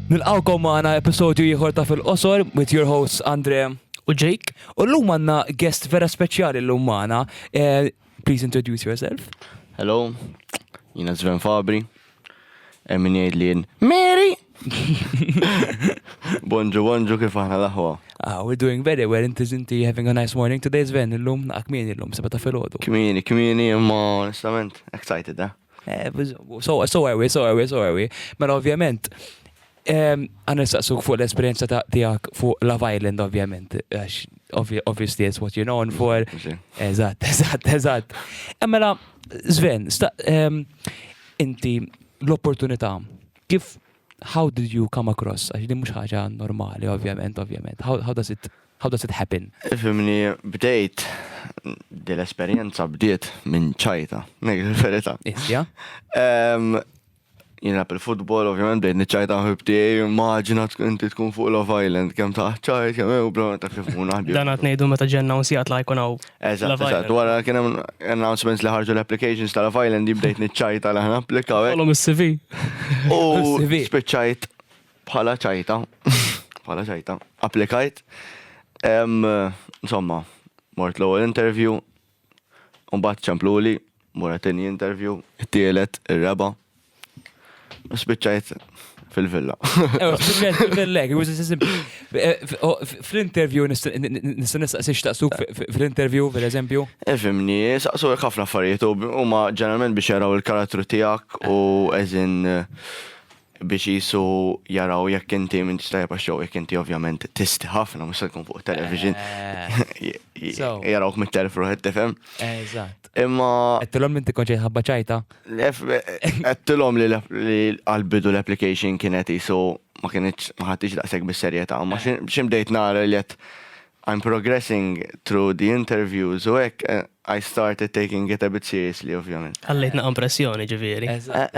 Nilqawkom maħna episodju jħor ta' fil-qosor with your hosts Andre u Jake. U l-lum għanna guest vera speċjali l-lum maħna. Eh, please introduce yourself. Hello, jina Sven Fabri. Hemm min jgħid li jien Mary! Bonġu, bonġu kif aħna l-aħwa. Ah, we're doing very well, inti zinti having a nice morning today, Sven, illum, ah, kmini illum, seba ta' filgħodu. Kmini, kmini, imma onestament, excited, eh? Eh, so, so are we, so are we, so are we. Mela ovvjament, Għan nistaqsuk fuq l-esperienza ta' tijak fuq Love Island, ovvjament. Obviously, it's what you're known for. Eżat, eżat, eżat. Emmela, Sven, inti l-opportunità, kif, how did you come across? Għax din mux ħaġa normali, ovvjament, ovvjament. How, how does it How does it happen? Fimni, bdejt, dil-esperienza bdiet minn ċajta, nejl verita Isja? Jina il-futbol, ovvijament, bdejt niċċajta ħibtijaj, maġina inti tkun fuq Love Island, kem taħċajt, kem ew, bro, ta' kif mun naħbi. Dan għat nejdu meta ġenna un sijat la jkun għaw. Eżat, eżat, wara kien hemm announcements li ħarġu l-applications ta' Love Island, jibdejt niċċajta li ħna applikaw. Kolom il-CV. U spiċċajt bħala ċajta, bħala ċajta, applikajt. Insomma, mort l-ewwel interview, Imbagħad ċempluli, mur għatini interview, it-tielet, ir-reba'. U spiċċajt fil-villa. Ewa, spiċċajt fil-villa, it was as simple. Fl-interview, nista' nistaqsi x'taqsuk fl-interview, per eżempju? Efimni, saqsu ħafna affarijiet u ma ġeneralment biex jaraw il-karattru tiegħek u eżin biex qisu jaraw jekk inti m'intix tajjeb għax-show, jekk inti ovvjament tisti ħafna mhux se tkun fuq television. Jarawk mit-telf ruħet tifhem. Eżatt. Imma Għedtilhom inti konċejt ħabba ċajta. għedtilhom li għal-bidu l-application kienet qisu ma kienx ma ħadtix daqshekk bis-serjetà, ma xi bdejt nara li qed I'm progressing through the interviews u hekk, I started taking it a bit seriously ovvjament. Ħallejt naqam pressjoni ġifieri. Eżatt.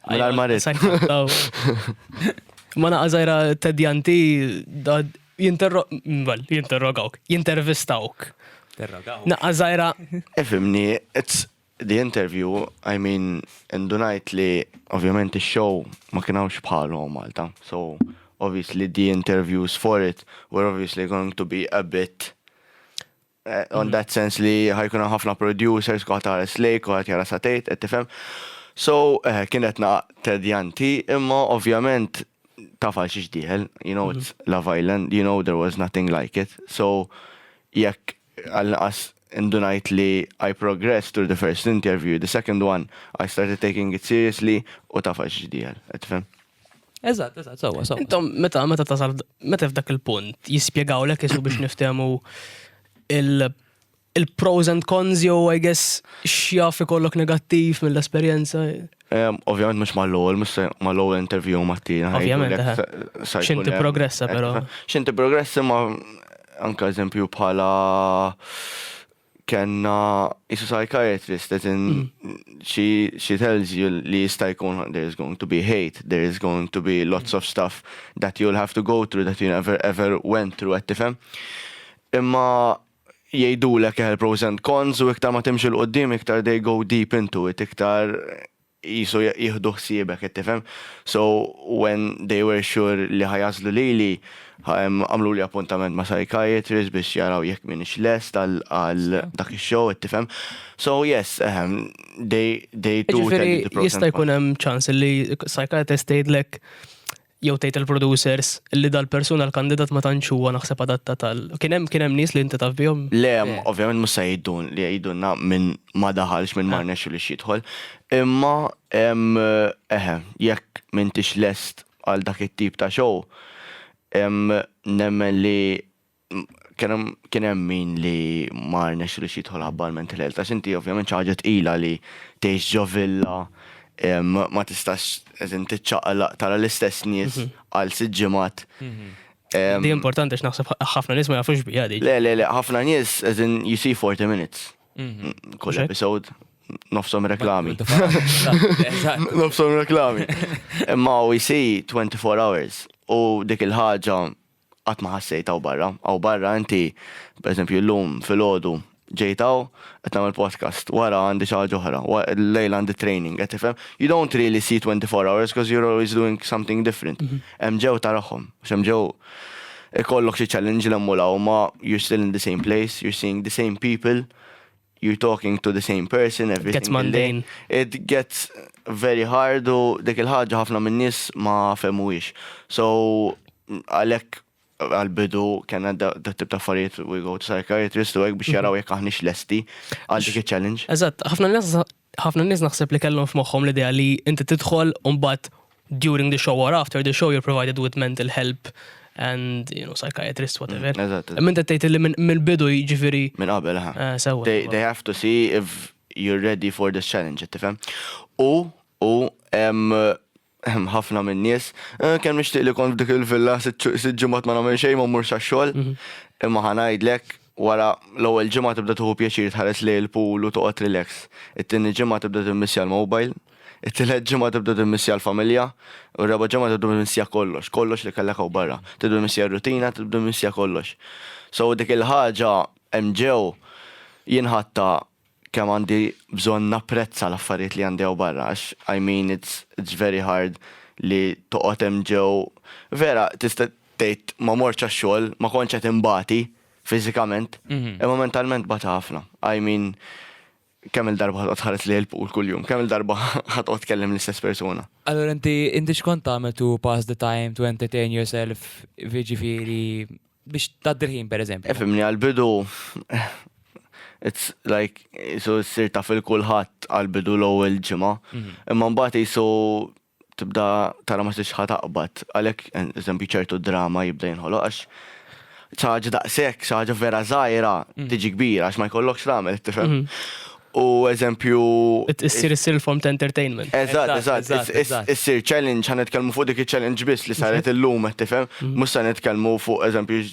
Mingħajr ma ridt. Ma naqa' żgħira tedjanti jinterrogawk, jintervistawk. Naqa' żgħira. Ifhimni, The interview, I mean, indunajt li ovvjament ix-show ma kien hawnx bħalu Malta. So, obviously the interviews for it were obviously going to be a bit eh, on that sense li ħajkun ħafna producers kuħat tares lejk, kuħat jara satejt, qed tifhem. So, eh, kienet naq tedjanti, imma ovvjament tafal xiex diħel, you know, it's Love Island, you know, there was nothing like it. So, jekk Għall-inqas indunajt li I progressed through the first interview, the second one I started taking it seriously u taf għax ġdieħel. Qed tifhem? Eżatt, eżatt, sewwa, sewwa. Intom meta meta tasal meta f'dak il-punt jispjegawlek isu biex niftehmu il- il-pros and cons jew I guess x'jaf ikollok negattiv mill-esperjenza. Ovvjament mux ma l-ewwel, mux ma l-ewwel interview ma t-tieni. Ovvjament. Xint progressa però. Xint progressa ma anka eżempju bħala kena jisu psychiatrist, as in mm. she, she tells you li jista jkun there is going to be hate, there is going to be lots of stuff that you'll have to go through that you never ever went through, għed tifem. Imma jgħidulek eħel pros and cons u iktar ma timxi 'l quddiem iktar they go deep into it iktar qisu jieħdu ħsiebek qed tifhem. So when they were sure li ħa jagħżlu lili għamluli appuntament ma' psychiatrist biex jaraw jekk m'iniex lest għal dak ix-show qed tifhem. So yes ehem they they do tell you the pros and cons. Jiġifieri jista' jkun hemm ċans li psychiatrist tgħidlek jew tgħid il-producers li dal-persuna l-kandidat ma tantx huwa naħseb adattat għal. Kien hemm kien hemm nies li inti taf bihom? Le, ovvjament mhux se jgħidun li jgħidulna min ma daħalx, min ma rnexxilux jidħol. Imma eħe, jekk m'intix lest għal dak it-tip ta' show, nemmen li kien hemm min li ma rnex li jidħol ħabba l-mental health. Għax inti ovvjament xi ħaġa tqila li tgħix ġo villa ma tistax eżin tiċċaqlaq tara l-istess nies mhm. għal sitt ġimgħat. Mhm. Di importanti x'naħseb ħafna nies ma jafux bija di. Le, le, le, ħafna nies eżin you see 40 minutes. Mhm. Kull episode nofsom reklami. Nofsom reklami. Imma u jisi 24 hours. U dik il-ħagġa Qatt ma ħassejt hawn barra. Hawn barra inti, pereżempju llum filgħodu ġejt hawn, qed nagħmel podcast, wara għandi xi ħaġa oħra, llejla għandi training, qed tifhem? You don't really see twenty four hours because you're always doing something different. Hemm ġew tarahom, għax hemm ġew ikollok xi challenge 'l hemm u 'l hawn imma you're still in the same place, you're seeing the same people you're talking to the same person every gets single day. mundane. It gets very hard u dik il-ħaġa ħafna minn nies ma femuwix. So għalhekk għal-bidu kena da da tip ta' affarijiet we go to psychiatrist u hekk biex jaraw jekk aħniex lesti għal dik il-challenge. Eżatt, ħafna nies Ħafna nies naħseb li kellhom f'moħħhom l-idea li inti tidħol u mbagħad during the show or after the show you're provided with mental help and you know psychiatrist whatever. Mm, eżatt. Minn qed tgħid li minn mill-bidu jiġifieri Minn qabel, ha. eh, sewwa. They, they have to see if you're ready for this challenge, tifhem? U, u, em, Hemm ħafna min-nies. Eh, kemm nixtieq li kont f'dik il-villa sitt ġimgħat ma nagħmel xejn ma mmurx għax-xogħol. Mhm. Imma ħa ngħidlek, wara l-ewwel ġimgħa tibda tieħu pjaċir tħares lejn il-pool u toqgħod relax. It-tieni ġimgħa tibda timmissja l-mobile, it-tielet ġimgħa tibda timmissja l-familja, u r-raba' ġimgħa tibda timmissja kollox, kollox li kellek hawn barra. Tibda timmissja r-rutina, tibda timmissja kollox. So dik il-ħaġa hemm ġew jinħatta kemm għandi bżonn napprezza l-affarijiet li għandi hawn barra għax I mean it's it's very hard li toqgħod hemm ġew vera tista' tgħid ma mortx għax-xogħol, ma kontx qed inbati fiżikament, imma mentalment bagħti ħafna. I mean kemm il-darba ħa toqgħod tħares lejn il-pool kuljum, kemm il-darba ħa toqgħod tkellem l-istess persuna. Allura inti inti x'kont tagħmel to pass the time, to entertain yourself, jiġifieri biex tgħaddi l-ħin pereżempju. Efimni għal-bidu it's like jisu ssir taf il-kulħadd għal-bidu l-ewwel ġimgħa. Mhm. Imma mbagħad jisu tibda tara ma tixħa taqbad. Għalhekk eżempju ċertu drama jibda jinħoloq għax ċaġa daqshekk, ċaġa vera żgħira mhm. tiġi kbira għax ma jkollokx tagħmel, tifhem. Mhm. u eżempju. Issir issir il-form ta' entertainment. Eżatt, eżatt. Issir challenge, ħan nitkellmu fuq dik il-challenge biss li saret illum, tifhem? Mhm. Mhux se nitkellmu fuq eżempju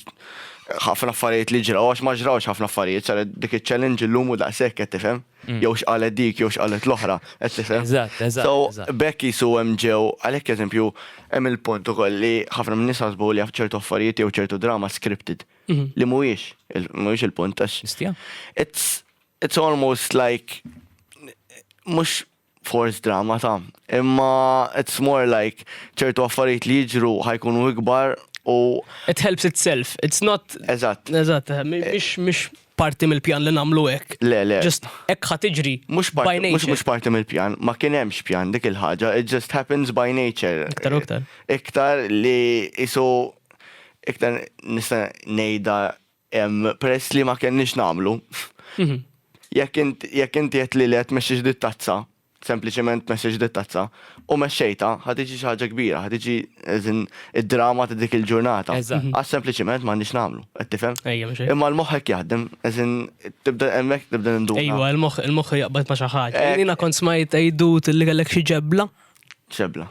ħafna affarijiet li ġraw, għax ma ġrawx ħafna affarijiet, saret dik il-challenge illum u daqshekk qed tifhem? Mm. Jew x'qalet dik, jew x'qalet l-oħra, qed tifhem? Eżatt, eżatt. So, bekk jisu hemm ġew, għalhekk eżempju, hemm il-punt ukoll li ħafna minn nies ħasbu li ċertu affarijiet jew ċertu drama scripted. Mhm. Li mhuwiex, mhuwiex il-punt għax. It's It's almost like mhux force drama ta', imma it's more like ċertu affarijiet li jiġru ħajkunu ikbar u. It helps itself, it's not. Eżatt. Eżatt, eh, mhix mhix parti mill-pjan li nagħmlu hekk. Le, le. Just hekk ħa tiġri. Mhux by parti, mhux nature. mhux parti mill-pjan, ma kien hemmx pjan dik il-ħaġa, it just happens by nature. Iktar u iktar. Iktar li isu iktar nista' ngħidha Peress li ma kenniex nagħmlu. Jekk int, jekk inti qed li le tmexxix dit-tazza, sempliċement tmexxix dit-tazza, u mexxejtha, ħa tiġi xi ħaġa kbira, ħa tiġi as in id-drama ta' dik il-ġurnata. Għax sempliċement m'għandniex nagħmlu, qed tifhem? Imma l-moħħ hekk jaħdem, as in tibda hemmhekk tibda ninduna. Ejwa, il-moħħ, il-moħħ jaqbad ma' xi ħaġa. Jiena kont smajt għidut li kellek xi ġebla. Ġebla.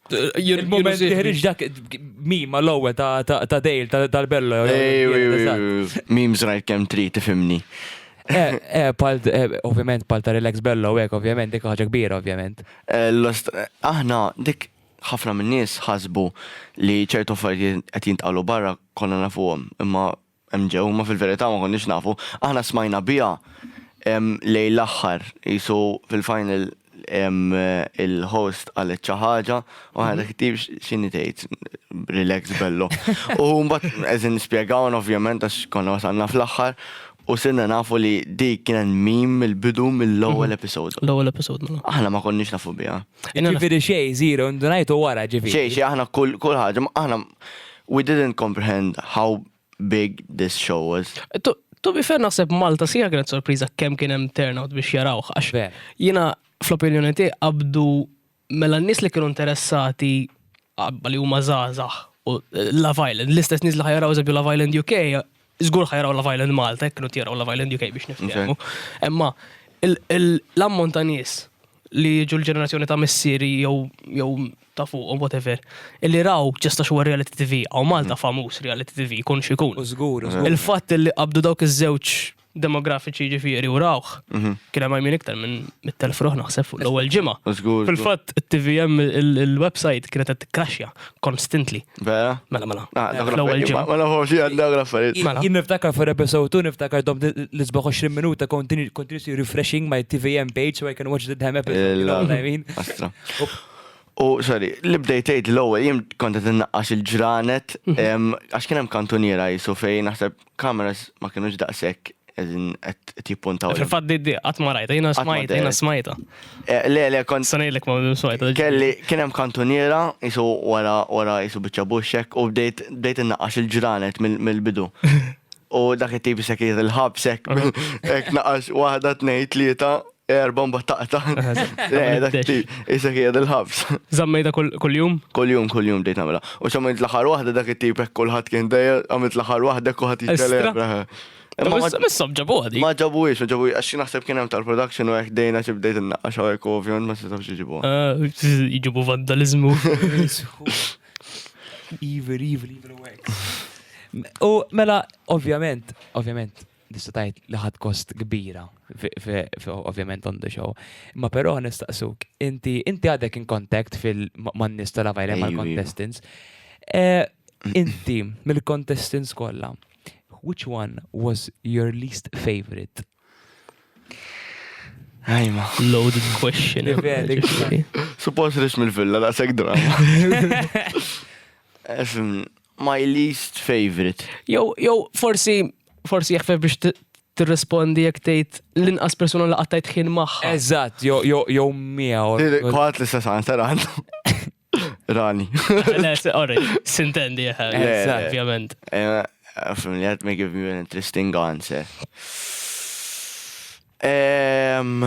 Il-moment li ħriġ dak mima l-ewwel ta' dejl tal-bello. Mim żrajt kemm trid tifimni. Eh, eh, eh, ovvjament pal ta' relax bello hekk, ovvjament dik ħaġa kbira ovvjament. Aħna dik ħafna minn nies ħasbu li ċertu affarijiet qed jintqalu barra konna nafuhom, imma Hemm ġew, imma fil-verità ma konniex nafu. Aħna smajna biha lejn l-aħħar, qisu fil-final il-host qalet xi ħaġa u aħna dak it-tim x'inhi tgħid, relax bello. U mbagħad qegħdin spjegawna ovvjament għax konna wasalna fl-aħħar u sirna nafu li dik kienet meme mill-bidu mill-ewwel episode. L-ewwel episode mela. Aħna ma konniex nafu biha. Jiġifieri xejn, żero, indunajtu wara ġifieri. Xejn, xejn, aħna kull ħaġa, aħna We didn't comprehend how big this show was. To, to be fair naħseb Malta sija kienet sorpriża kemm kien hemm turnout biex jarawh għax jiena fl-opinjoni tiegħi qabdu mela n-nies li kienu interessati qabba li huma żgħażagħ u Love Island, l-istess nies li ħajaraw eżempju Love Island UK Żgur ħa jaraw Love Island Malta jekk kienu jaraw Love Island UK biex niftehmu. Imma l-ammont ta' nies li jiġu l-ġenerazzjoni ta' missieri jew ta' fuq u whatever, li raw ġesta xogħol reality TV, għaw Malta mm. famuż reality TV, kun xikun. Il-fatt li qabdu dawk iż-żewġ demografiċi ġifieri u rawħ, mhm. kien hemm għajmin iktar minn mit-telf ruħ naħseb fuq l-ewwel ġimgħa. Fil-fatt it-TVM il-website kienet qed tikkaxja, Constantly. Vera? Mela, mela. Ah, eh, l-ewwel ġimgħa. Mela hu xi għandha graffariet. Mela. Jien niftakar for episode 2 niftakar dom l-isbaħ 20 minuta continuously refreshing my TVM page so I can watch the damn episode. You know what I mean? U sorry, li bdejt tgħid l-ewwel jien kont qed innaqqax il-ġranet mhm. għax kien hemm kantuniera jisu fejn naħseb Kameras ma kienux daqshekk qegħdin qed jippuntaw. Fil-fatt di di qatt ma rajta, jiena smajta, jiena smajta. Eh, le, le, kont. Sanejlek ma minn smajta. Kelli kien hemm kantuniera jisu wara wara jisu biċċa buxxek u bdejt bdejt innaqax il-ġranet mill-bidu. U dak it-tip se kien il-ħabsek, hekk naqax waħda tnejn tlieta Er bomba taqta. Issa kien il-ħabs. Zammejda kull-jum? Kull-jum, kull-jum dejt għamela. U xamilt l-ħar wahda dak it-tip hekk kulħadd kien dejja, għamilt l-ħar wahda kulħadd jitkellem. Missob ġabu għadi. Ma ġabu ix, ma ġabu għax naħseb kien hemm tal-production u hekk dejna xi bdejt innaqqax hawnhekk ovvjament ma setgħux iġibu. Ah, iġibu vandalizmu. Evil, evil, evil wax. U mela, ovvjament, ovvjament, tista' tgħid li ħadd kost kbira ovvjament on the show. Ma però nistaqsuk, inti inti għadek in contact fil-man-nies tal-avajle mal-contestants. Eh, inti mill-contestants kollha, which one was your least favorite? Ajma. Loaded question. Suppos rix mill-villa, da' sek drama. My least favourite. Jew, jew forsi, forsi jaħfef biex tirrispondi jekk tgħid l-inqas persuna li qattajt ħin magħha. Eżatt, jew jew jew miegħu. Kwaħt l-istess answer għandu. Rani. Le, se- orri, sintendi, eh, Eżatt. ovvjament. Eh, From that may give you an interesting answer. Ehm.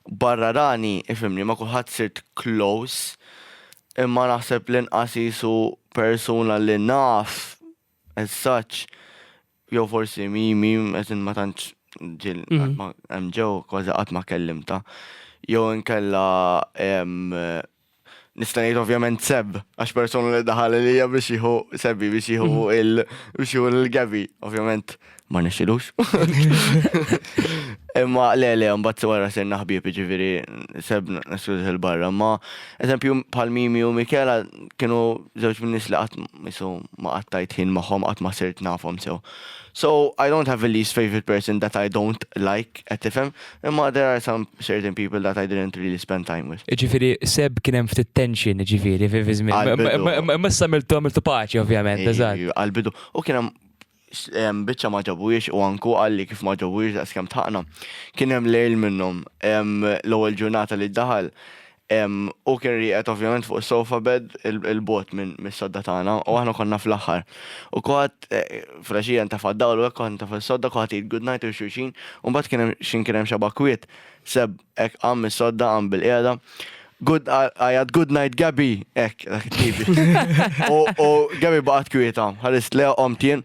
Barra rani, ifhimni, ma' kulħadd sirt close, imma naħseb l-inqas qisu persuna li naf as such, jew forsi Mimi, as in ma tantx ġieli qatt ma hemm ġew, kważi qatt ma kellimtha. Jew inkella ehm. nista' ngħid ovvjament Seb, għax persona li daħal lija biex jieħu Sebbi biex jieħu mhm. il biex jieħu l-Gabi, ovvjament ma nixilux. Imma le le, mbagħad wara ser naħbieb ġifieri Seb naskuż il-barra, ma eżempju bħal Mimi u Mikela kienu żewġ minn nies li qatt misu ma qattajt ħin magħhom qatt ma sirt nafhom sew. So I don't have a least favorite person that I don't like, qed tifhem, Imma there are some certain people that I didn't really spend time with. Ġifiri, seb kien hemm ftit tension, ġifiri, fi fi żmien. Għal-bidu. Ma- ma- Missa miltu għamiltu paċi, ovvjament, eżatt. Ej, Għal-bidu. U kien hemm s- em, biċċa ma ġabux u anku għalli kif ma ġabux daqs kemm tħaqna. Kien hemm lejl minnhom em, l-ewwel ġurnata li daħal Hu kien rieqed ovvjament fuq is-sofa bed 'il bogħod mis-sodda tagħna u aħna konna fl-aħħar. U kulħadd, filgħaxija intefa' d-dawl u hekk kulħadd intefa' s-sodda, kulħadd jgħid good night lil xulxin u mbagħad kien hemm x'in kien hemm xi bakwiet, Seb hekk qam mis-sodda, qam bil-qiegħda, good, għajat good night Gabby, hekk dak it-tip. U Gabby baqgħet kwieta, ħarist lejha, qomt jien,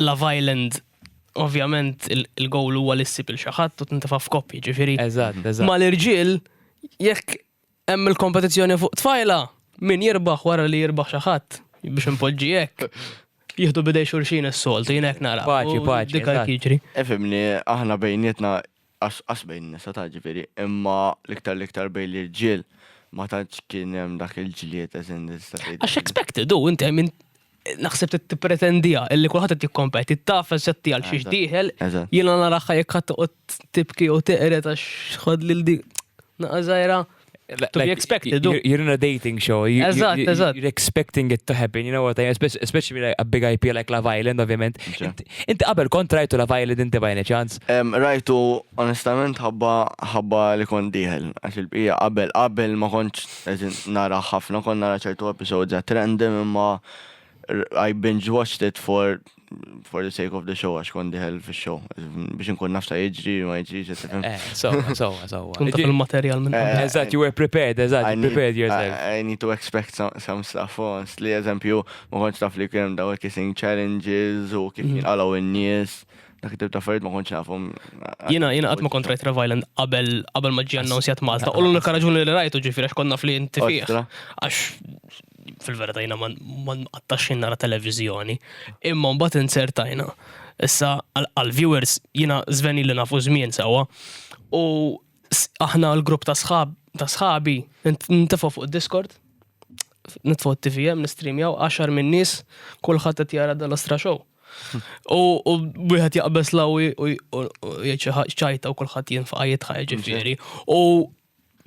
Love Island ovvjament il-gowl huwa li ssib il xi ħadd u tintefa' f'koppji, ġifieri. Eżatt, eżatt. Ma l-irġiel jekk hemm il-kompetizzjoni fuq tfajla, min jirbaħ wara li jirbaħ xi ħadd biex impoġġi hekk. Jieħdu bidej xulxin is-soltu, jien hekk nara. Paċi, paċi. Dik għal kiġri. Efimni, aħna bejnietna Qas qas bejn in-nisa ta' ġifieri, imma l-iktar l-iktar bejn l-irġiel ma tantx kien hemm dak il-ġlied as in tista' tgħid. Għax expected hu, inti min naħseb trid tippretendiha illi kulħadd qed jikkompeti, ttaf eżatt għal xiex dieħel, jiena narahha jekk ħadd toqgħod tibki jew teqred għax ħadd lil dik naqa' żgħira. to be expected. You're in a dating show. You, eżatt, you, eżatt. You're expecting it to happen, you know what I mean? Especially like a big IP like Love Island, ovvjament. Inti qabel kont rajtu Love Island inti by any chance? Rajtu, onestament, ħabba ħabba li kont diħel. Għax il-bqija qabel, qabel ma kontx nara ħafna, kont nara ċertu episodes at random imma I binge watched it for for the sake of the show għax kon diħel fi show biex nkun nafta jġri ma jġri ġetifem. Eh, so, so, so. Kunta fil-materjal minn. Eh, eżat, you were prepared, eżat, you prepared yourself. I need to expect some, some stuff on. Li eżempju, ma konċ taf li kienem daw kissing challenges u kif mm. għalaw in-nies dak tibta affarijiet ma kontx nafhom. Jiena jiena qatt ma kont rajt Love Island qabel qabel ma ġie annonsjat Malta. U l-unika raġuni li rajtu ġifieri għax konna fli inti fih. Għax fil-verita jina ma nqattax nara televizjoni, imma mbagħad insertajna. Issa għal-viewers jina zveni li nafu żmien sewa u aħna l-grupp ta' sħab ta' sħabi ntifu fuq Discord nitfu t-TVM nistreamjaw 10 minn nies kulħadd qed jara dal astra show. U wieħed jaqbeż lawi u jgħid xi ċajta u kulħadd jinfaqa jitħajġ ġifieri. U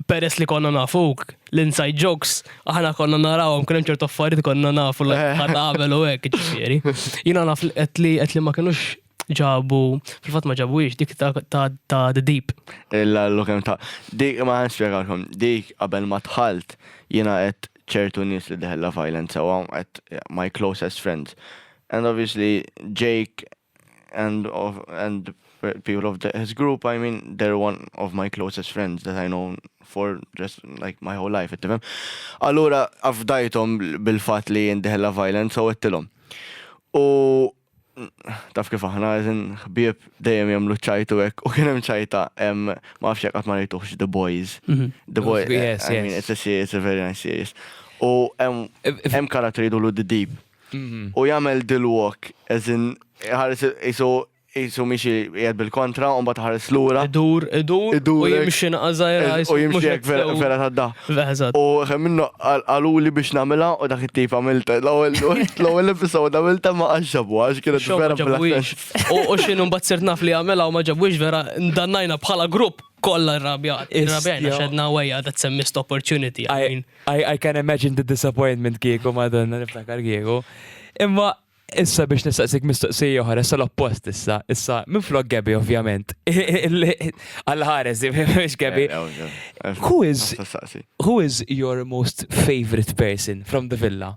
peress li konna nafuk, l-inside jokes, aħna konna narawhom kien hemm ċertu affarijiet konna nafu li ħadd għamel u hekk ġifieri. Jiena naf qed li qed li ma kinux ġabu, fil-fatt ma ġabuhiex dik ta' ta' ta' The Deep. Illa l kemm ta' dik ma nispjegalkom, dik qabel ma dħalt jiena qed ċertu nies li deħella violent sewwa qed my closest friends. And obviously Jake and of and people of the, his group, I mean, they're one of my closest friends that I know for just like my whole life, ittifem. Allura, afdajtom bil-fat li jindiħella violence u għettilom. U taf kif aħna għazin ħbieb dejjem jamlu ċajtu ek u kienem ċajta em ma fxek għat ma rejtuħx The Boys. Mhm. The Boys, I mean, it's a series, it's a very nice series. U em karatteri dulu The Deep. Mhm. u jagħmel dil walk as in ħares isu isu miexi qiegħed bil-kontra u mbagħad ħares lura. Idur, idur, u Idur hekk. jimxi naqażajra. Eż- U jimxi hekk vera vera tad-da. Veħzat. U xem minnu għaluli biex namela u dak it-tip għamilta l-ewwel l-ewwel episod għamilta ma għaxġabu għax kienet Xo ma vera ġabwix. fil-aħħar. U u xinu mbagħad sirt naf li għamela u ma ġabwix vera ndannajna bħala grupp. kolla rabjat, rabjajna xedna għajja that some missed opportunity. I, mean. I, I can imagine the disappointment kieku madonna niftakar kieku. Imma issa biex nistaqsik mistoqsija oħra, issa l-oppost issa, issa minn flok Gabi ovvjament. Għal-ħares, biex Gabi. Who is, who is your most favorite person from the villa?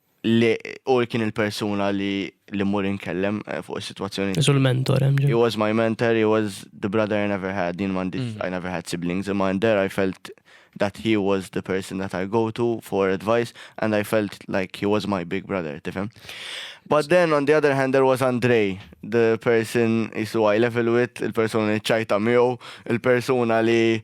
li u kien il-persuna li li mur inkellem eh, fuq is-sitwazzjoni. Isu l-mentor hemm He was my mentor, he was the brother I never had, din mandi, mm. I never had siblings, imma and there I felt that he was the person that I go to for advice and I felt like he was my big brother, tifhem? But then on the other hand there was Andre, the person isu I level with, il-persona li ċajta miegħu, il-persona li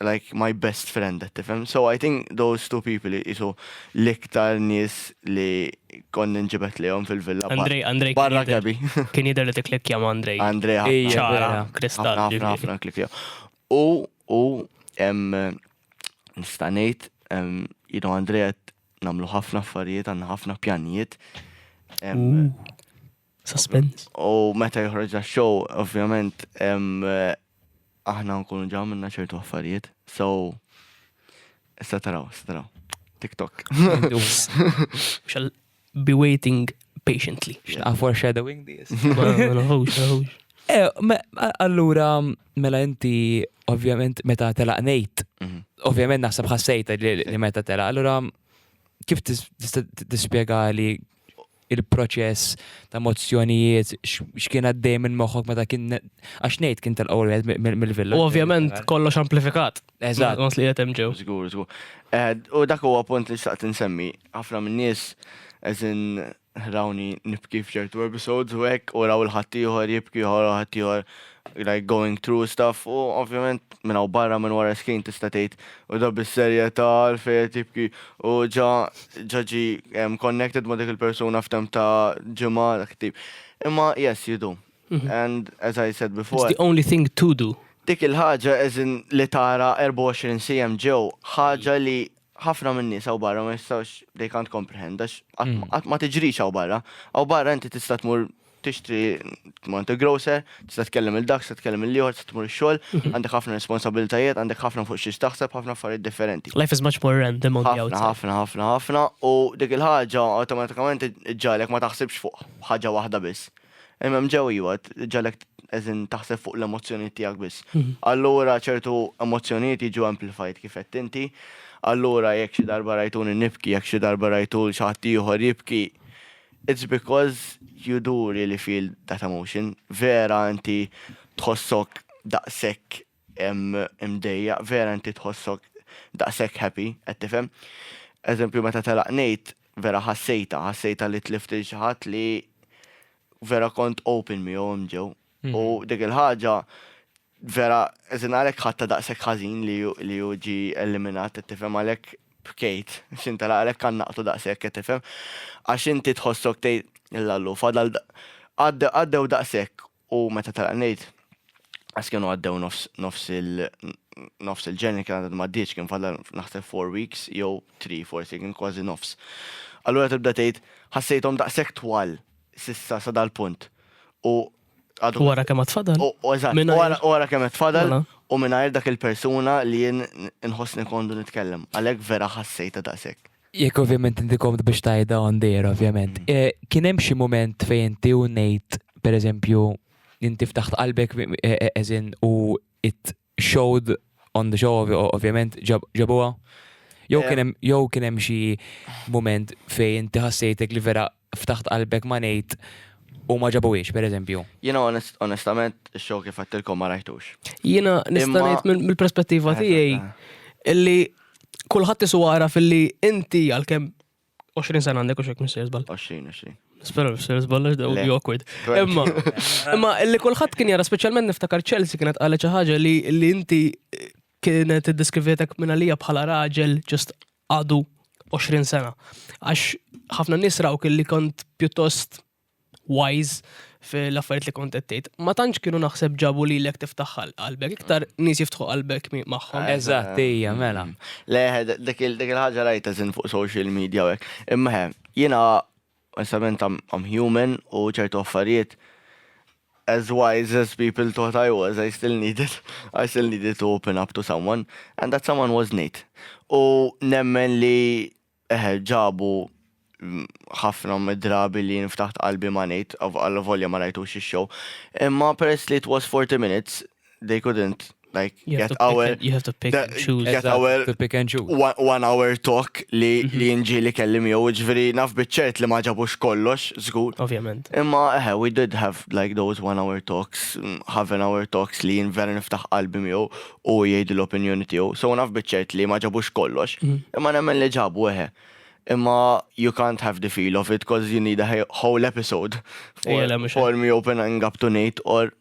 like my best friend, qed tifhem. So I think those two people isu l-iktar nies li konni nġibet lejhom fil-villa. Andrej, Andrej. Barra Gabi. Kien jidher li tikklikkja ma' Andrej. Andrej ħafna. Ċara, kristall. Ħafna ħafna klikkja. U u nista' ngħid, you know, Andrej qed nagħmlu ħafna affarijiet, għandna ħafna pjanijiet. Suspens. U meta joħroġ show, ovvjament, eh, aħna nkunu ġa minna ċertu affarijiet. So, issa taraw, issa taraw. TikTok. Shall be waiting patiently. Xnaqa for shadowing this. Eh, allura, mela inti, ovvjament, meta telaq nejt, mhm. ovvjament naħseb ħassejta li meta telaq, allura kif tispjega li il-proċess ta' mozzjonijiet, x'kien għaddej minn moħħok meta kien għax ngħid kien tal qawel mill-villa. U ovvjament kollox amplifikat. Eżatt. Għas li qed hemm ġew. Żgur, żgur. Eh, u dak huwa punt li xtaqt insemmi. Ħafna minn nies eżin rawni nibki f'ċertu episodes u hekk u raw il-ħaddieħor jibki ħor ħaddieħor like going through stuff u ovvjament minn hawn barra minn wara screen tista' tgħid u da bis-serjetà għalfejn qed jibki u ġa ġa ġi em, connected ma' dik il-persuna f'temp ta' ġimgħa dak tip. Imma yes, you do. And as I said It's before, the only thing to do. dik il-ħaġa as in li tara 24 sija ġew, ħaġa li ħafna minn nies hawn barra ma jistgħux they can't comprehend għax qatt ma tiġrix hawn barra. Hawn barra inti tista' tmur tixtri tmur inti grocer, tista' tkellem il-dak, tista' tkellem il-ieħor, tista' tmur ix-xogħol, għandek ħafna responsabilitajiet, għandek ħafna fuq xiex taħseb, ħafna affarijiet differenti. Life is much more random on the outside. Ħafna, ħafna, ħafna, ħafna u dik il-ħaġa awtomatikament iġġalek ma taħsibx fuq ħaġa waħda biss. Imma mġew iwa, ġalek eżin taħseb fuq l-emozzjonijiet tiegħek biss. Mhm. Allura ċertu emozzjonijiet jiġu amplified kif qed inti. Allura jekk xi darba rajtuni nibki, jekk xi darba rajtu l xaħat ieħor jibki, it's because you do really feel that emotion. Vera inti tħossok daqshekk imdejjaq, vera inti tħossok daqshekk happy, qed tifhem. Eżempju meta telaq Nate vera ħassejtha, ħassejtha li tlift lil xi ħadd li vera kont open miegħu hemm ġew. U dik il-ħaġa vera eżin għalhekk ħadta daqshekk ħażin li hu ġi eliminat, qed tifhem għalhekk bkejt. X'inta għalhekk għannaqtu daqshekk, qed tifhem. Għax inti tħossok tgħid il-lallu fadal għaddew daqshekk U meta telaq ngħid, għax kienu għaddew nofs il nofs il-ġenni kien għadha m'għaddiex kien fadal naħseb four weeks jew three forsi kien kważi nofs. Allura tibda tgħid ħassejthom daqshekk twal sissa sa dal-punt. U għadu. Wara kemm qed fadal? Eżatt, wara kemm qed fadal mela. u mingħajr dak il-persuna li jien inħossni kondu nitkellem. Għalhekk vera ħassejta daqshekk. Jekk ovvjament inti komd biex tajda on dejra, ovvjament. Mm. Eh, kien hemm xi mument fejn inti u ngħid, pereżempju, inti ftaħt qalbek eżin eh, eh, u it showed on the show, ovvjament, ġabuha? Jew kien hemm xi mument fejn inti ħassejtek li vera ftaħt qalbek ma ngħid u ma ġabuhiex, per eżempju. Jiena onestament ix-show kif għattilkom ma rajtux. Jiena nista' ngħid mill-perspettiva tiegħi illi kulħadd isu għara fil-li inti għalkemm 20 sena għandek u xek minn serzbal. 20, 20. Spera minn serzbal, għax daw awkward. Imma, imma illi kulħadd kien jara, speċjalment niftakar Chelsea kienet għalli ċaħġa li inti kienet id-diskrivetek minn għalija bħala raġel ġust għadu 20 sena. Għax ħafna nies rawk li kont pjuttost wise fil-affarijiet li kont qed Ma tantx kienu naħseb ġabu li lek tiftaħ qalbek, iktar nies jiftħu qalbek magħhom. Eżatt, hija mela. Le, dik il-ħaġa rajta żin fuq social media hekk. Imma jiena Onestament I'm I'm human u ċertu affarijiet as wise as people thought I was I still needed I still needed to open up to someone and that someone was Nate. U nemmen li eħe ġabu ħafna mid-drabi li jien ftaħt qalbi ma' Nate, għall-volja ma rajtux ix-show. Imma peress li it was 40 minutes, they couldn't like you get our and, you have to pick and choose get exactly. our to pick and choose one, one hour talk li mm -hmm. li nġi li kellim jew ġifieri naf biċċert li ma ġabux kollox żgur. Ovvjament. Imma eħe we did have like those one hour talks, mm, half an hour talks li jien vera niftaħ qalbi miegħu u jgħid l-opinjoni tiegħu. So naf biċċert li ma ġabux kollox. Mm -hmm. Imma nemmen li ġabu eħe. Imma you can't have the feel of it because you need a whole episode for, for me opening up to Nate or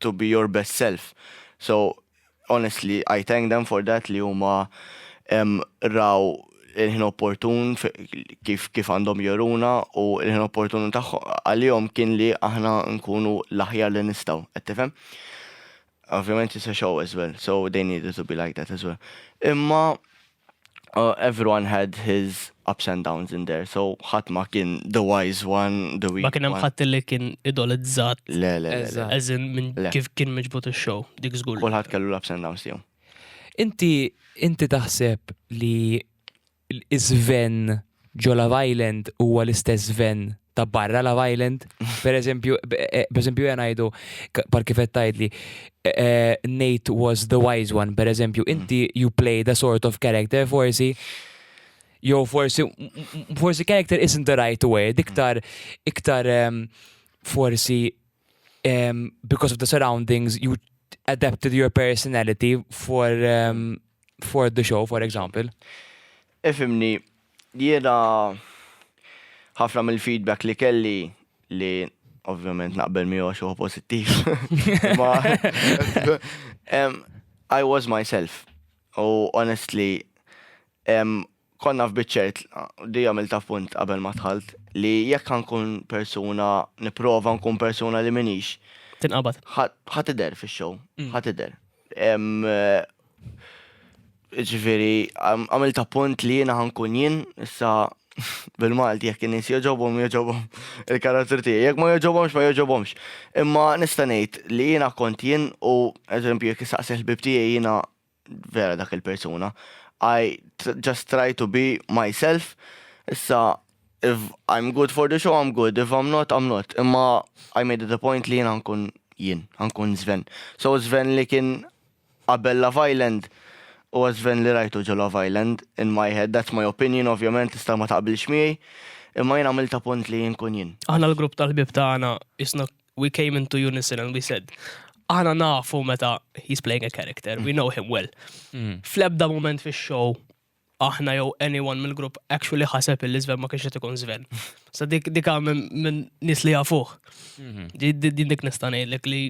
to be your best self. So honestly I thank them for that li huma raw il-ħin opportun kif kif għandhom joruna u il-ħin opportun għalihom kien li aħna nkunu l-aħjar li nistgħu, qed tifhem? Ovvjament it's a show as well, so they needed to be like that as well. Imma everyone had his ups and downs in there, so ħadd ma kien the wise one, the weak one. Ma kien hemm ħadd li kien idolizzat. Le, le, le. As in minn kif kien miġbut ix-show, dik żgur. Kulħadd kellu l-ups and downs tiegħu. Inti inti taħseb li iż-żven ġo Love Island huwa l-istess Sven ta' barra Love Island. Per eżempju, eh, per eżempju jena jgħidu, par kifet tajdli, eh, eh, Nate was the wise one, per eżempju, inti you play the sort of character forsi jew forsi forsi character isn't the right way, diktar iktar um, forsi um, because of the surroundings you adapted your personality for um, for the show, for example. Ifhimni, jiena ħafna mill-feedback li kelli li ovvjament naqbel miegħu għax huwa pożittiv. Ma I was myself. U honestly, konna f'biċċert, di għamilta f'punt qabel ma dħalt, li jekk ħankun persuna, nipprova nkun persuna li minix. Tinqabad. Ħa tidher fix-show, ħa tidher. Ġifieri, għamilt appunt li jiena ħankun jien, issa bil-Malti jekk in-nies jogħġobhom jogħġobhom il-karattru tiegħi, jekk ma jogħġobhomx ma jogħġobhomx. Imma nista' ngħid li jiena kont jien u eżempju jekk issaqsi l-ħbieb tiegħi jiena vera dak il-persuna. I just try to be myself, issa if I'm good for the show I'm good, if I'm not I'm not, imma I made it a point li jiena ħankun jien, ħankun Sven. So Sven li kien Qabel Love Island, huwa Sven li rajtu ġo Love Island, in my head, that's my opinion, ovvjament tista' ma taqbilx miegħi, imma jien għamilt appunt li nkun jien. Aħna l-grupp tal-ħbieb tagħna qisna we came into unison and we said, aħna nafu meta he's playing a character, we know him well. Fl-ebda mument fix-show aħna jew anyone mill-grupp actually ħaseb illi Sven ma kienx qed ikun Sven. Sa dik dik minn nies li jafuh. Mhm. Din dik nista' ngħidlek li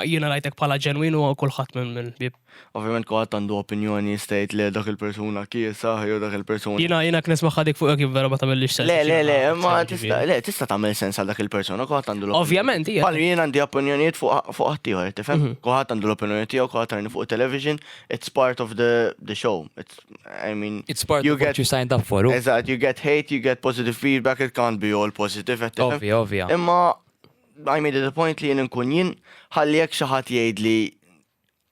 jiena rajtek bħala ġenwin u kulħadd minn minn bib. Ovvjament kulħadd għandu opinjoni stajt li dak il-persuna kiesa jew dak il-persuna. Jiena jiena knis maħħadik fuq jekk vera ma tagħmilx sens. Le le le, ma tista' le tista' tagħmel sens għal dak il-persuna kulħadd għandu l-opinjoni. Ovvjament hija. Bħal jien għandi opinjonijiet fuq ħaddieħor, tifhem? Mhm. Kulħadd għandu l-opinjoni tiegħu, kulħadd għarni fuq television, it's part of the, the show. It's, I mean, it's part you of get, what you signed up for. Eżat, you get hate, you get positive feedback, it can't be all positive. Ovvio, ovvio. Imma, I made it a point li jien nkun jien, ħalli jek xaħat jgħid li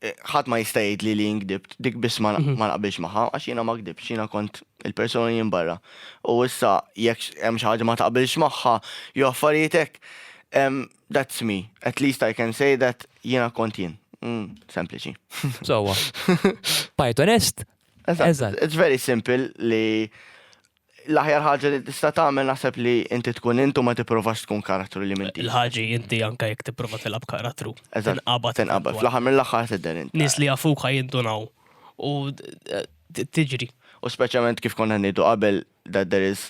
eh, ħadd ma jista' jgħid li li ngdibt, dik biss ma mhm. naqbilx magħha għax jiena ma gdibx, jiena kont il-persuna jien barra. U issa jekk hemm xi ħaġa ma taqbilx magħha, jew affarijiet hekk. That's me. At least I can say that jiena kont jien. Mm, sempliċi. Sowa. Pythonist? Eżatt. It's very simple li l-aħjar ħaġa li tista' tagħmel naħseb li inti tkun intu ma tipprovax tkun karattru li minti. Il-ħaġi inti anke jekk tipprova tilab karattru. Eżatt. Tinqabad. Tinqabad. Fl-aħħar mill-aħħar tidher inti. Nies li jafuk ħajindunaw. U eh, tiġri. U speċjalment kif konna ngħidu qabel that there is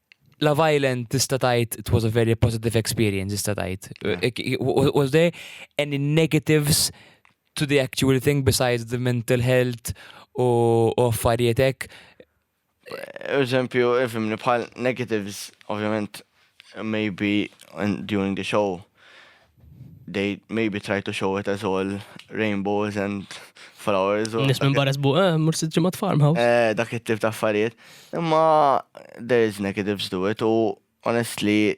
Love Island tista' tgħid it was a very positive experience tista' tgħid. Was there any negatives to the actual thing besides the mental health u affarijiet hekk? Eżempju, ifimni bħal negatives, ovvjament, maybe during the show, they maybe try to show it as all rainbows and flowers. Nis minn barra sbu, eh, mur sitt ġimgħat farmhouse. Eh, dak it-tip ta' affarijiet. Imma there is negatives to it u honestly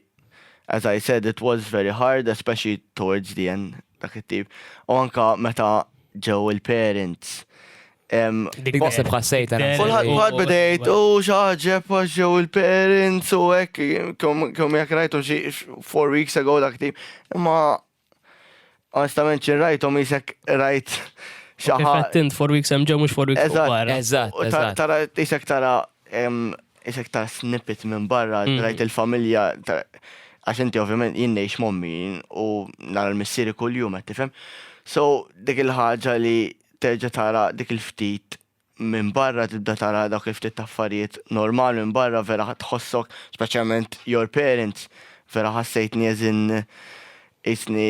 as I said it was very hard especially towards the end dak it-tip. U anka meta ġew il-parents Dik naħseb ħassejt għana. Kulħadd bħal bidejt u xaġeb għax ġew il-parents u hekk kemm jekk rajtu xi four weeks ago dak tip. Imma onestament xi rajthom isek rajt xi ħadd. Tint four weeks hemm ġew mhux four weeks barra. Eżatt, eżatt. Tara isek tara isek tara snippet minn barra, mm. rajt il-familja għax inti ovvjament jien ngħix mommi u nara l-missieri kuljum qed tifhem. So dik il-ħaġa li terġa' tara dik il-ftit minn barra tibda tara dawk il-ftit affarijiet normal minn barra vera ħadd tħossok speċjalment your parents vera ħassejtni as in qisni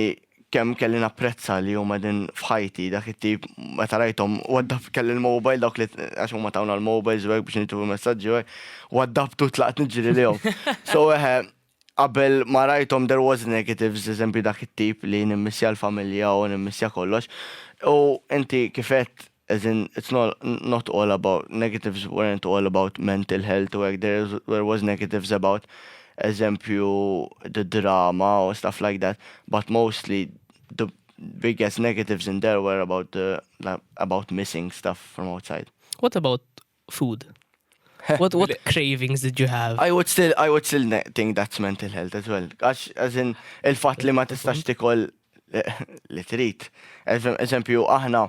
kemm kelli napprezza li huma qegħdin f'ħajti dak it-tip meta rajthom waddab kelli l-mobile dawk li għax huma tawna l-mobiles u hekk biex nitfu messaġġi u hekk waddabtu tlaqt niġri lihom. So eħe Qabel ma rajthom there was negatives, eżempju dak it-tip li nimmissja l-familja u nimmissja kollox. U inti kif għedt as in it's not not all about negatives weren't all about mental health u hekk there there was negatives about eżempju the drama u stuff like that but mostly the biggest negatives in there were about the about missing stuff from outside. What about food. What, what cravings did you have? I would still, I would still think that's mental health as well. Għax, as in, il-fat li ma tistax tikol eh, li trid. Eżempju, aħna,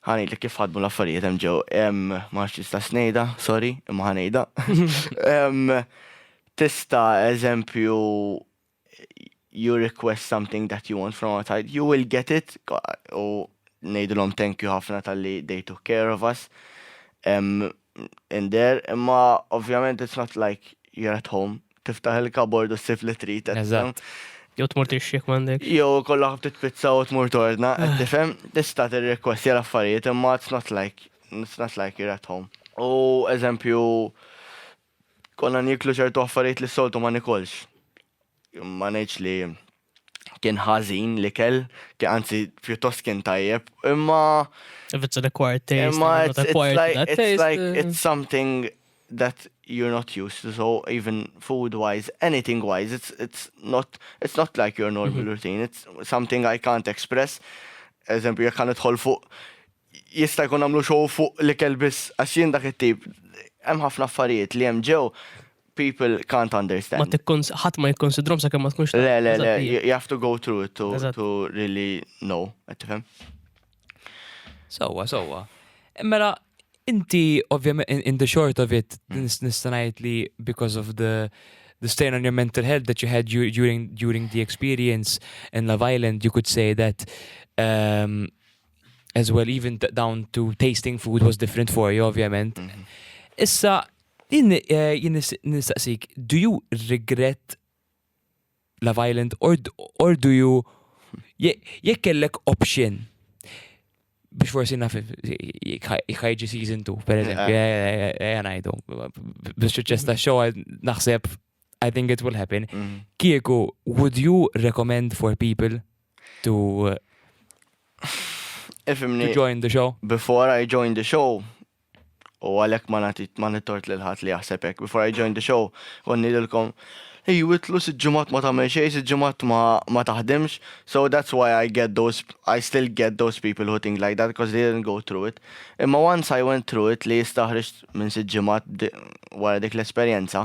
ħani li kif ħadmu l-affarijiet hemm ġew, ma tista' snejda, sorry, imma ħanejda. Tista' eżempju, you request something that you want from outside, you will get it, u nejdilom thank you ħafna tal-li they took care of us. Um, in there, imma ovvjament it's not like you're at home, tiftaħ il-kabord u s-sif li trit. Eżatt. Jow tmur tixxek mandek. Jow kollha ħabti pizza u tmur torna, ah. tifhem, tista' tirrekwesti għal affarijiet imma it's not like it's not like you're at home. U eżempju Konna nieklu ċertu affarijiet li s-soltu ma nikolx. Ma ngħidx li kien ħażin l-ikel, kien anzi pjuttost kien tajjeb, imma If it's an acquired taste, imma it's not it's, it's acquired like that it's taste. like uh, it's something that you're not used to. So even food wise, anything wise, it's it's not it's not like your normal routine. It's something I can't express. Eżempju, jekk għan idħol fuq jista' jkun għamlu show fuq l-ikel biss, għax jien dak it-tip, hemm ħafna affarijiet li hemm ġew people can't understand. Ma tikkons, ħadd ma jikkonsidrom sa kemm ma tkunx. Le, le, le, you have to go through it to, to really know, qed tifhem. Sewwa, sewwa. Mela, inti ovvjament in the short of it hmm. nista' ngħid li because of the the strain on your mental health that you had during during the experience in Love Island, you could say that um, as well, even down to tasting food was different for you, ovvjament. Mhm. Issa, jien eh, nistaqsik, do you regret la violent or, or do you jekk kellek option biex forsi naf jħajġi season 2, per eżempju, jgħanajdu. Eh, eh, biex ċeċesta xoħal naħseb I think it will happen. Mm. Kieku, would you recommend for people to uh, Ifimni, to join the show? before I join the show, u għalek ma nati ma nittort lil ħadd li jaħseb hekk, before I join the show, konni lilkom Ej, witlu siġġimat ma tagħmel xejn, siġġimat ma, ma taħdimx, so that's why I get those, I still get those people who think like that, because they didn't go through it. Imma once I went through it, li jistaħriġ minn siġġimat di- wara dik l-esperjenza,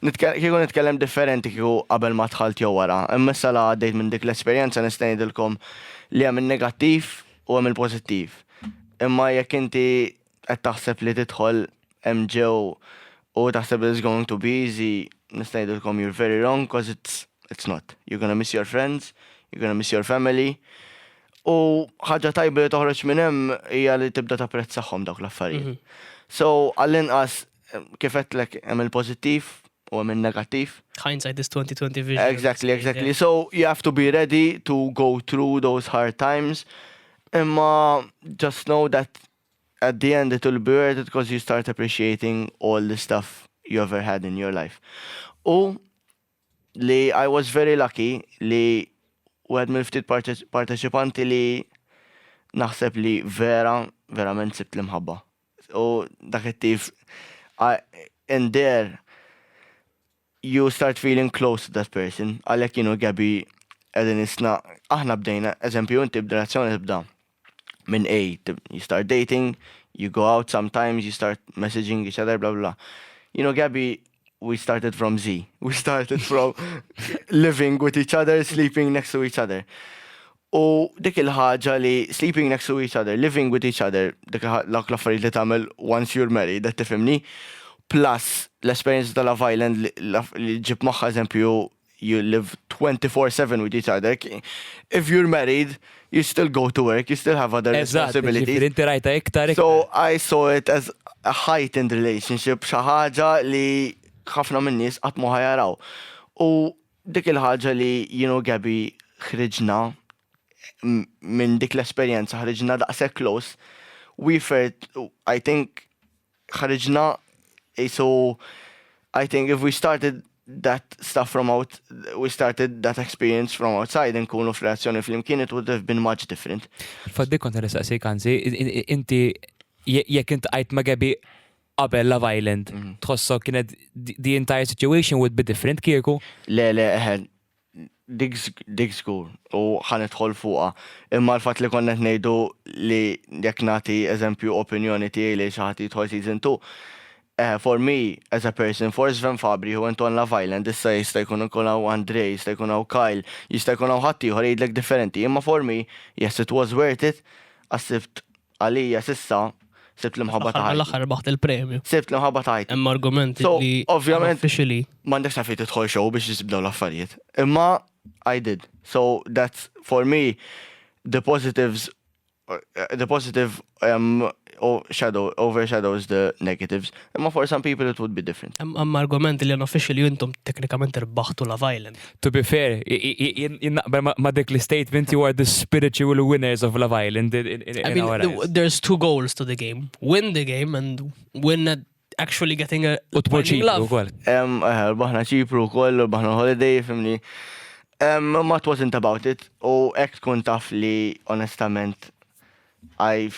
Kieku nitkellem differenti kieku qabel ma dħalt jew wara, imma issa la għaddejt minn dik l-esperjenza nista' ngħidilkom li hemm in-negattiv u hemm il-pożittiv. Imma jekk inti qed taħseb li tidħol MJ u taħseb li it's going to be easy, nista' ngħidilkom you're very wrong cause it's, it's not. You're gonna miss your friends, you're gonna miss your family. U ħaġa tajba li toħroġ minn hemm hija li tibda tapprezzahom dawk l-affarijiet. Mhm. So, għall-inqas Kif għedtlek hemm il-pożittiv u hemm in-negattiv. Hindsight is 2020 vision. Exactly, exactly. So you have to be ready to go through those hard times. Imma just know that at the end it will be worth it because you start appreciating all the stuff you ever had in your life. U li I was very lucky li u għed mill-ftit parteċipanti li naħseb li vera, verament sibt l-imħabba. u dak it-tif and there you start feeling close to that person. Għalhekk jien u Gabby qegħdin isna aħna bdejna, eżempju inti b'relazzjoni tibda minn A, you start dating, you go out sometimes, you start messaging each other, bla bla. You know, Gabby, we started from Z. We started from living with each other, sleeping next to each other. U dik il-ħaġa li sleeping next to each other, living with each other, dik dawk l-affarijiet li tagħmel once you're married, qed tifhimni? Plus l-esperjenza ta' Love Island li ġġib magħha eżempju you live 24 seven with each other. If you're married, you still go to work, you still have other responsibilities. Eżatt, inti rajta iktar iktar. So I saw it as a heightened relationship, xi ħaġa li ħafna min-nies qatt ma ħajaraw. U Dik il-ħaġa li jien u Gabby ħriġna minn dik l-esperjenza ħriġna daqshekk close, we felt, I think, ħriġna, so I think if we started that stuff from out, we started that experience from outside, nkunu f'reazzjoni fl-imkien, it would have been much different. Faddi kont nistaqsik, anzi, inti, jekk inti għajt ma' Gabi, qabel Love Island, tħossok kienet the entire situation would be different kieku? Le, le, eħen, dik zgur u ħanetħol fuqa. Imma l-fat li konnet nejdu li jek nati eżempju opinjoni tijaj li xaħat jitħol season 2, eh, for me, as a person, for Sven Fabri, who went on Love Island, issa jista jkun ikun għaw Andre, jista jkun għaw Kyle, jista jkun għaw ħattijħor jgħidlek differenti, imma for me, yes, it was worth it, għassibt Għalija s'issa sibt l-imħabba ta' ħajti. Fl-aħħar mill-aħħar rbaħt il-premju. Sibt l-imħabba ta' ħajti. Hemm argumenti li officially. M'għandekx taf fejn tidħol show biex issib dawn l-affarijiet. Imma I did. So that's for me the positives the positive um, shadow, overshadows the negatives. Imma for some people it would be different. Hemm argument li unofficially intom teknikament irbaħtu la Island. To be fair, jien naqbel ma' dik l-statement you are the spiritual winners of Love Island. I mean, there's two goals to the game. Win the game and win at actually getting a U tmur ċipru wkoll. Hemm eh, baħna ċipru wkoll, baħna holiday, fimni. Ma it wasn't about it. U hekk tkun taf li onestament I,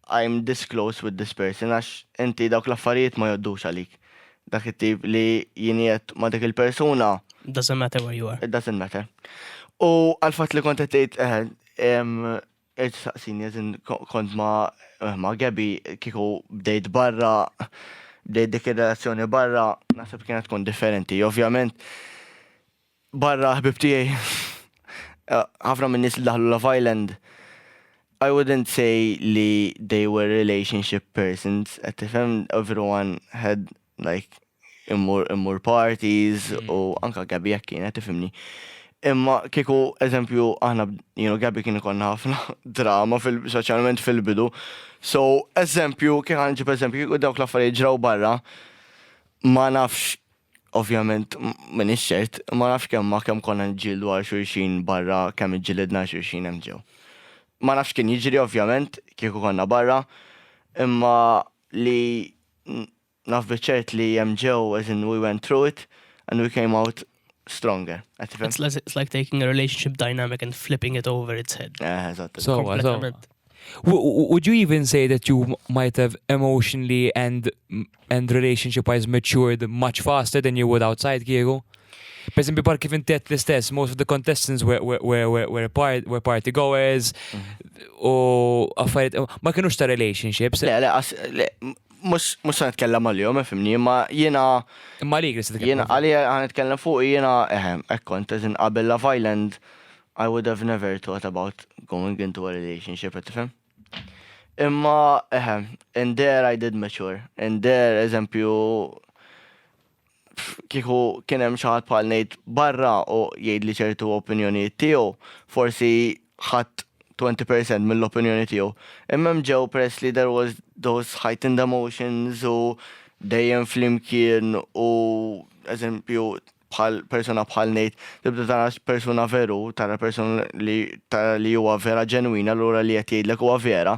I'm this close with this person għax inti dawk l-affarijiet ma joddux għalik. Dak it-tip li jiniet ma dik il-persuna. Doesn't matter where you are. It doesn't matter. U għal-fat li kont għetajt, eħed, saqsini, għazin kont ma, eh, ma Gabi kiku bdejt barra, bdejt dik il-relazzjoni barra, nasib kienet tkun differenti. Ovvjament, Barra ħbieb tiegħi, ħafna min-nies li daħlu Love Island, I wouldn't say li they were relationship persons, qed tifhem, everyone had like immur immur parties u anke Gabby hekk kienet tifhimni. Imma kieku eżempju aħna jien u Gabby kien ikollna ħafna drama fil speċjalment fil-bidu. So eżempju kif ħa nġib eżempju kieku dawk l-affarijiet ġraw barra ma nafx Ovvjament m'iniex ċert, imma nafx kemm ma kemm konna niġġieldu għal xulxin barra kemm iġġilidna għal xulxin hemm ġew. Ma nafx x'kien jiġri ovvjament kieku konna barra, imma li naf biċ-ċert li hemm ġew as in we went through it and we came out stronger. Qed tifhem? It's like taking a relationship dynamic and flipping it over its head. Eħe, eżatt. Sewwa, sewwa. Kompletament. would you even say that you might have emotionally and and relationship wise matured much faster than you would outside kieku? Per esempio, par kif intet l-istess, most of the contestants were, were, were, were, part, were party goers u affarijiet, ma kienux ta' relationships. Le, le, as, le, mux, mux għan itkellem għal-jom, fimni, ma jena. Ma li għris itkellem. Jena, għalli għan itkellem fuq, jena, eħem, ekkont, eżin qabel Love Island, I would have never thought about going into a relationship, qed tifhem? Imma, eħe, and there I did mature. And there, eżempju, kieku kien hemm xi ħadd bħal ngħid barra u jgħidli ċertu opinjonijiet tiegħu, forsi ħadd 20% mill-opinjoni tiegħu. Imma hemm ġew peress li there was those heightened emotions u dejjem flimkien u eżempju bħal persuna bħal ngħid tibda tara persuna veru, tara persuna li tara li huwa vera ġenwina lura li qed jgħidlek huwa vera,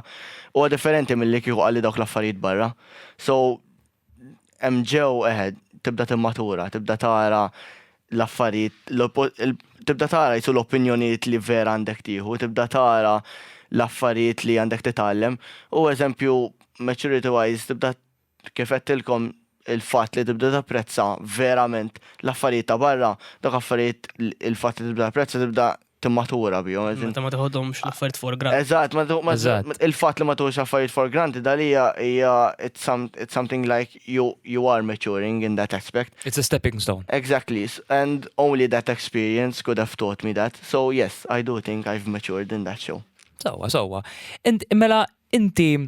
huwa differenti milli kieku qalli dawk l-affarijiet barra. So hemm ġew eħed tibda timmatura, tibda tara l-affarijiet, tibda tara jisu l-opinjonijiet li vera għandek tieħu, tibda tara l-affarijiet li għandek titgħallem u eżempju maturity wise tibda Kif għedtilkom, il-fatt li tibda tapprezza verament l-affarijiet ta' barra, dawk affarijiet il-fatt li tibda tapprezza tibda timmatura bihom. Meta ma tiħodhomx l-affarijiet for granted. Eżatt, il-fatt li ma tieħux affarijiet for granted għalija hija it's something like you are maturing in that aspect. It's a stepping stone. Exactly, and only that experience could have taught me that. So yes, I do think I've matured in that show. Sewwa, sewwa. Mela inti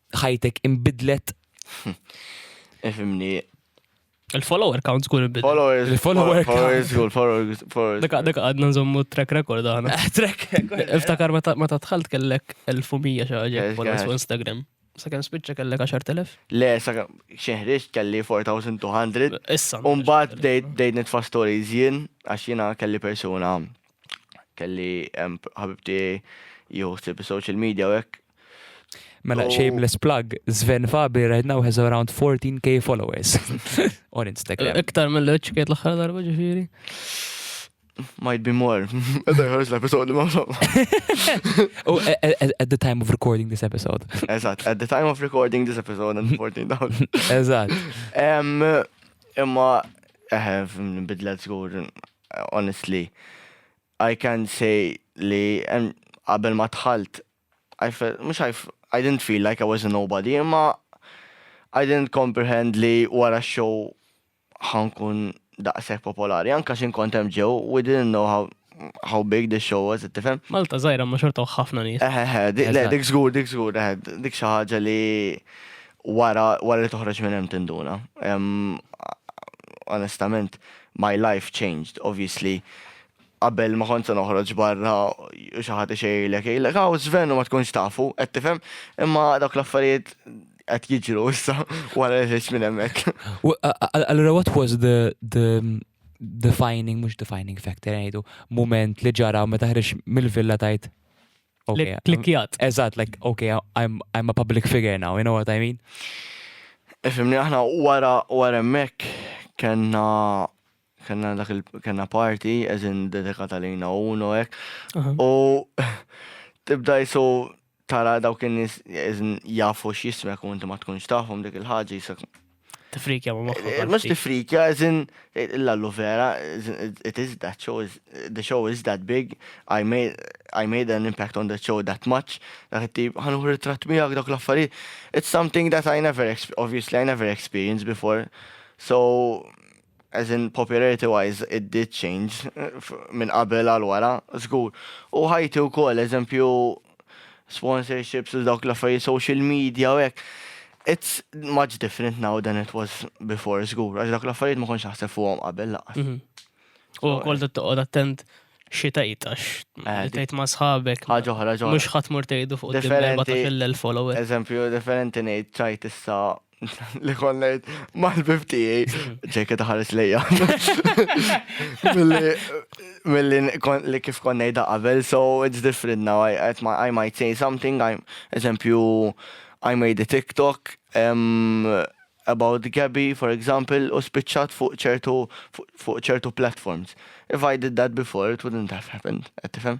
ħajtek imbidlet. Ifimni. Il-follower count zgur imbidlet. Followers. Il-follower Followers zgur, followers. followers. Daka daka għadna nżommu track record għana. Trek. Iftakar meta meta dħalt kellek 1100 xi ħaġa Yes, followers guys. fuq Instagram. Sa kemm spiċċa kellek 10,000? Le, sa xeħriġ kelli 4200. Issa. Umbat bdejt bdejt nitfa stories jien, għax jiena kelli persuna kelli ħabibti jieħu ħsieb social media u hekk. Mela shameless plug, Sven Fabi right now has around 14k followers on Instagram. Iktar mill-leċ kiet l-aħħar darba ġifieri. Might be more. Għadda jħarġ l-episod li maħsam. Oh, at the time of recording this episode. Eżat, at the time of recording this episode and 14 down. Eżat. Imma, eħe, bidlet zgur honestly I can say li qabel ma dħalt I felt, mux I, I didn't feel like I was a nobody, imma I didn't comprehend li wara show ħankun daqsek popolari, anka xin kontem ġew, we didn't know how how big the show was, tifhem? Malta zaħira ma xortaw ħafna nies. Eh, eh, eh le, dik zgur, dik zgur, eh, dik xi ħaġa li wara wara li toħroġ minn hemm tinduna. Onestament, My life changed obviously qabel ma kont se noħroġ barra u xi ħadd ixejjirlek jgħidlek hawn Sven u ma tkunx tafu, qed tifhem? Imma dawk l-affarijiet qed jiġru issa wara li ħriġt minn hemmhekk. Allura what was the the defining mhux defining factor ngħidu mument li ġara meta ħriġt mill-villa tgħid okay, klikkjat. Eżatt, like, okay, I'm, I'm a public figure now, you know what I mean? Fimni, aħna wara wara mek kena kena dak il kena party eżin dedikata lejna u no ek. U tibda jisu tara dawk in-nies jafu x'jismek u inti ma tkunx tafhom dik il-ħaġa jisek Tifrikja ma moħħok. Eh, mhux tifrikja, eżin l-allu vera, it is that show, is, the show is that big, I made, I made an impact on the show that much, dak it-tip, ħanuħ ritrat miegħek dak l-affarijiet. It's something that I never, obviously I never experienced before. So, As in popularity wise it did change minn qabel għal wara, żgur. U ħajti wkoll, eżempju sponsorships u dawk l-affarijiet social media u hekk, it's much different now than it was before, żgur, għax dak l-affarijiet ma kontx naħseb fuqhom qabel laqqas. Mhm. U wkoll eh. toqgħod attent xi tgħid għax eh, tgħid ma' sħabek. Ħaġa oħra ġo. Mhux ħadd mur tgħidu fuq differenti fil-followers. Eżempju, differenti ngħid ċajt issa li kon lejt mal-bib tijaj, ġejke taħares lejja. Mill-li li kif kon nejda qabel, so it's different now, I, I might say something, I, eżempju, I made a TikTok, um, about Gabby, for example, u spiċċat fuq ċertu fuq ċertu platforms. If I did that before, it wouldn't have happened, qed tifhem?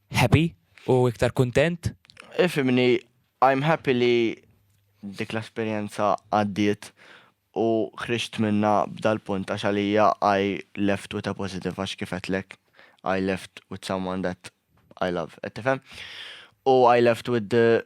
Happy u iktar kuntent? Ifhimni, I'm happy li dik l-esperjenza għaddiet u ħriġt minnha b'dal-punt għax għalija I left with a positive għax kif għedtlek I left with someone that I love, qed tifhem? U I left with the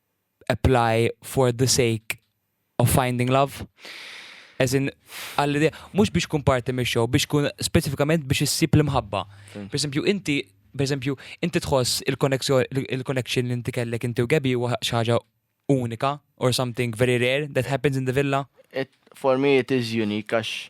apply for the sake of finding love? As in, għall-idea, mux biex kun parti me show, biex kun specifikament biex issib l-imħabba. Per esempio, inti, per esempio, inti tħoss il-connection li inti kellek inti u Gabi u xaġa unika or something very rare that happens in the villa? It, for me it is unique, għax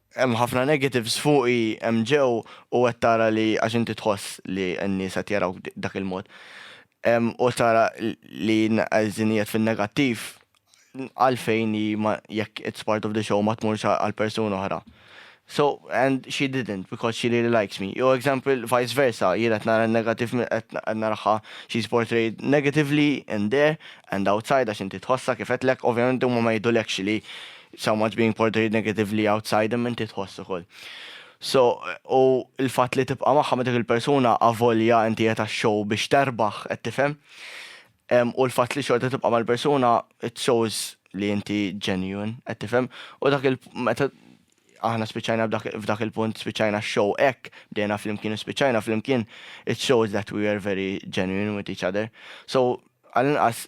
Hemm ħafna negatives fuqi hemm ġew u qed tara li għax inti tħoss li n-nies qed jarawk dak il-mod u tara li qegħdin qiegħed fin-negattiv għalfejn hi ma jekk it's part of the show ma tmurx għal persuna oħra. So and she didn't because she really likes me. Jew example vice versa jien qed nara n-negativ qed naraha she's portrayed negatively in there and outside għax inti tħossha kif għedtlek ovvjament huma ma jgħidulekx li so much being portrayed negatively outside him inti tħoss ukoll. So, u l-fatt li tibqa' magħha ma' dik il-persuna avolja inti qed għax-show biex terbaħ, qed tifhem? Em, u l-fatt li xorta tibqa' mal-persuna it shows li inti genuine, qed tifhem? U dak il meta aħna spiċċajna b'dak- f'dak il-punt spiċċajna x-show hekk, bdejna flimkien u spiċċajna flimkien, it shows that we were very genuine with each other. So, għall-inqas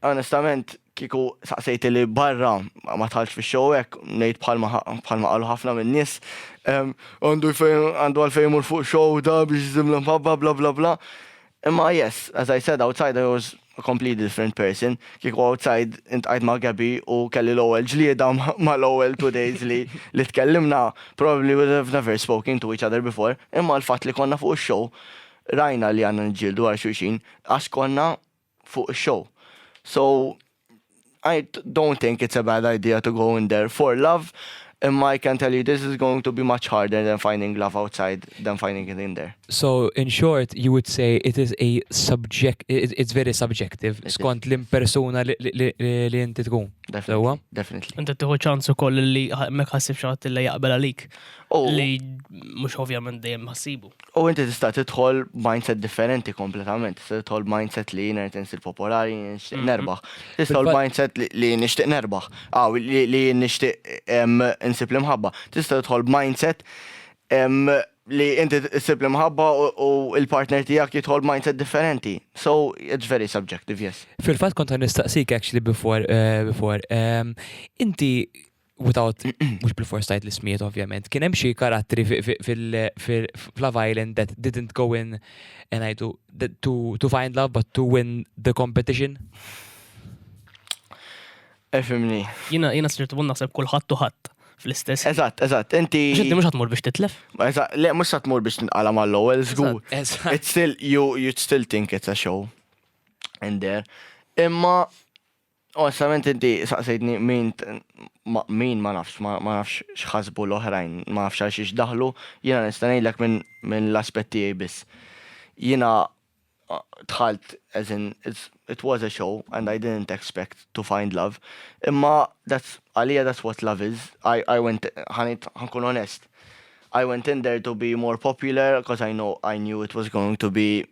Onestament kieku saqsejti li barra ma tħallx fix-show hekk, ngħid bħalma bħalma qalu ħafna min-nies, għandu għandu għalfejn imur fuq show da biex iżim l-imħabba bla bla bla. Imma yes, as I said outside I was a completely different person. Kieku outside intqajt ma' Gabby u kelli l-ewwel ġlieda mal-ewwel two days li li tkellimna, probably would have never spoken to each other before. Imma l-fatt li konna fuq ix-show rajna li għandna niġġieldu għal xulxin għax konna fuq ix-show. So I don't think it's a bad idea to go in there for love imma I can tell you this is going to be much harder than finding love outside than finding it in there. So in short you would say it is a subject it's very subjective skont l-impersuna li inti tkun. Definitely. Definitely. Inti tieħu ċans ukoll li mek ħassib xi ħadd li jaqbel għalik. Li mhux ovvjament dejjem ħassibu. U inti tista' tidħol mindset differenti kompletament. Tista' tidħol mindset li jien qed insir popolari, jien nixtieq mhm. nerbaħ. Tista' tidħol mindset li jien nixtieq nerbaħ. Aw li jien nixtieq insib l-imħabba. Tista' tidħol mindset li inti issib l-imħabba u il-partner tiegħek jidħol mindset differenti. So it's very subjective, yes. Fil-fatt kont nistaqsik actually before eh, before. Inti without, mux bil-fors tajt l-ismiet ovvjament, kien hemm xi karattri fil-Love Island that didn't go in and I do to, to find love but to win the competition. Efimni. Jina, jina s-sirtu bunna seb kullħat tuħat fl-istess. Eżatt, eżatt, inti. Ġinti mhux ħatmur biex titlef? Eżatt, le mhux ħatmur biex tinqala mal-ewwel żgur. It's still you you still think it's a show. And there. Imma Onestament inti saqsejtni min ma min ma nafx, ma ma nafx x'ħasbu l-oħrajn, ma nafx għal xiex daħlu, jiena nista' ngħidlek minn minn l-aspett tiegħi biss. Jiena dħalt as in it was a show and I didn't expect to find love imma that's għalija that's what love is, I I went ħa ngħid ħa nkun onest, I went in there to be more popular 'cause I know I knew it was going to be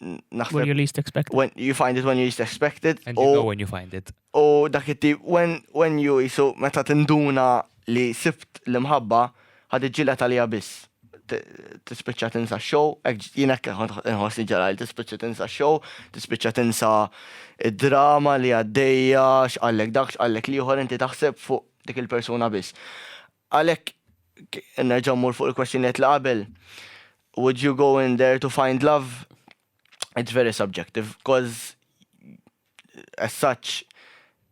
naħseb. When you least expect it. When you find it when you least expect it. And you know when you find it. U dak it when, when you jisu meta tinduna li sibt l-imħabba ħad iġġilet għalija biss. Tispiċċa tinsa show, jina nħosni ġara li tispiċċa tinsa show, tispiċċa tinsa id-drama li għaddejja, xqallek dak, xqallek liħor, inti taħseb fuq dik il-persuna biss. Għalhekk, nerġa' mmur fuq il-kwestjonijiet li qabel, would you go in there to find love? It's very subjective, coz as such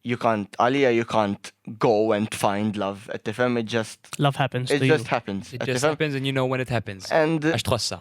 you can't, għalija you can't go and find love, qed tifhem, it just. Love happens to you. It just happens. It just happens and you know when it happens. And. Għax tħossha.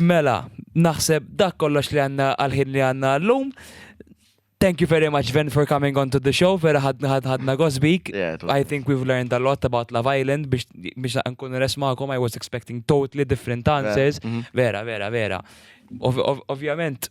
Mela, naħseb dak kollox li għandna għall-ħin li għandna għallum. Thank you very much, Ven, for coming onto the show. Vera ħadna ħadna gosbik. Yeah, it was- I think we've learned a lot about Love Island biex biex nkun res magħkom. I was expecting totally different answers. mhm. Vera, vera, vera. Ov- ov- Ovvjament,